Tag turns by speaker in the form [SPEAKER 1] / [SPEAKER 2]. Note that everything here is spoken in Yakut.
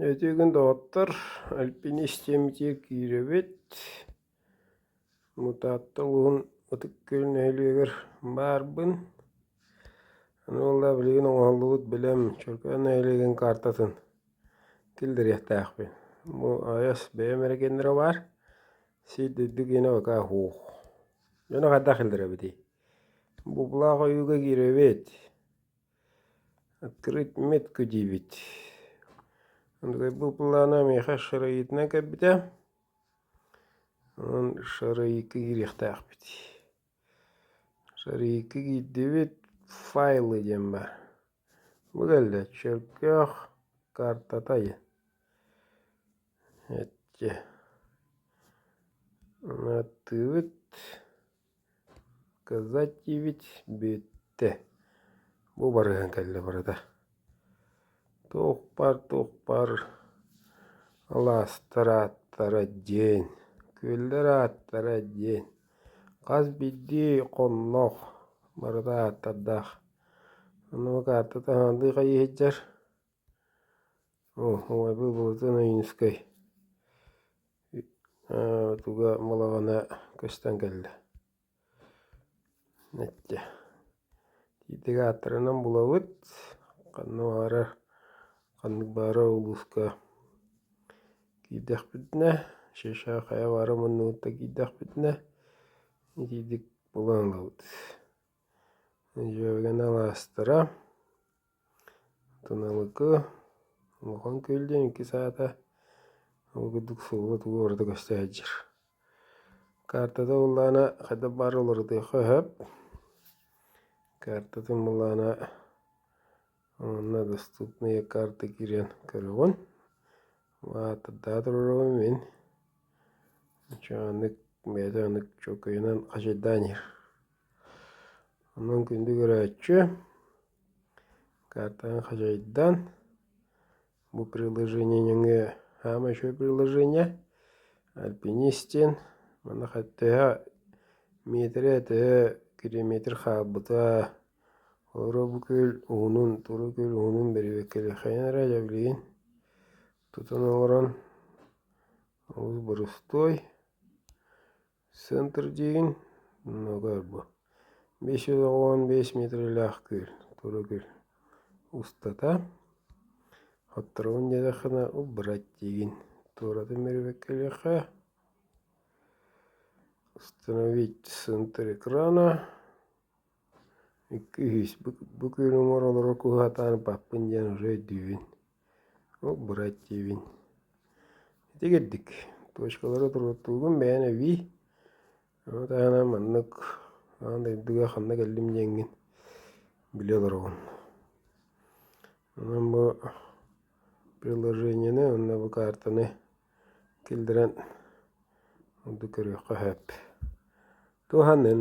[SPEAKER 1] Өтүгүн доҕоттор, Альпин истиэмдьиэ киирэбит. Мутаатта улууһун Ытык Күөл нэһилиэгэр баарбын. Аны ылла билигин оҥоһуллубут билэм Чөркөөн нэһилиэгин каартатын киллэриэхтээхпин. Бу аҕыйас бэйэм эрэгиэннэрэ баар. Сир дойду киэнэ бакаа оһох. Дьону хайдах киллэрэбитий? Буулаах ойууга киирэбит. Открыть метку диибит. Был плана миэхэ шараитынан кэлбитэ. Онон шараикка киириэхтээхпит. Шараикка киирдибит файлы диэн баар. Бу кэллэ чөркөөх картата айы. Эчи. Аны аттыыбыт. Кыза диибит бүттэ, бу барыһан кэллэ барыта. Туохпар туохпар алаастар ааттара диэн, күөллэр ааттара диэн, хас биирдии хонноох барыта ааттардаах. Ону каартата хаһаандыы хайыы сылдьар. Оо, оҕо буолбутун Ойуунускай туга балаҕана көстөн кэллэ. Нэччэ итиитик ааттарынан булабыт, ханна баарар ханнык баара улууска киирдэхпитинэ, Шеша хайа баара муннубутта киирдэхпитинэ итиитик булан ылабыт. Дьүөбүгэнэ алаастара Туналыгы улахан күөл диэн иккис аата ол курдук сыллы тугу барыта көстө сылдьар. Картата буллаана хайдах баар уларытыахха сөп. Картатын буллаана онно доступные карты киирэн көрөҕүн. Аатырдаа туруорума мин чааннык бэйэтэ ынык чөкөйүнэн хачайдаан иһэр. Онон күндү көрөөччү Картаны хадьайдан, бу приложение нөҥүө хаама үчүгэй приложение альпинистин манах төһө метрэ төһө километр хаалбыта оҕоро бу көл уһунун тура көл уһунун бэрэбиэркэлиэххэйин эрэ дьэ билигин тутан олорон олус борустуой Центр диин мөгөөр бу биэс жүз оҕон биэс миэтирэлээх кыыл тура кыыл устата отторун диэтэххинэ убрать диигин туоратын мерибеккэлиэххэ установить центр экрана Икки-үһүс бу күнү оҥоролоро куһаҕатаан ырбаппын диэн уже өйдүүбүн, ол бырайт диибин. Ити курдук точкалары туруортуубун бэйэм эбии, ону таһынан маннык аан дойдуга ханна кэллим диэҥҥин билэ олоробун. Онон бу приложениены уонна бу каартаны киллэрэн ордук көрүөххэ сөп. Туһанын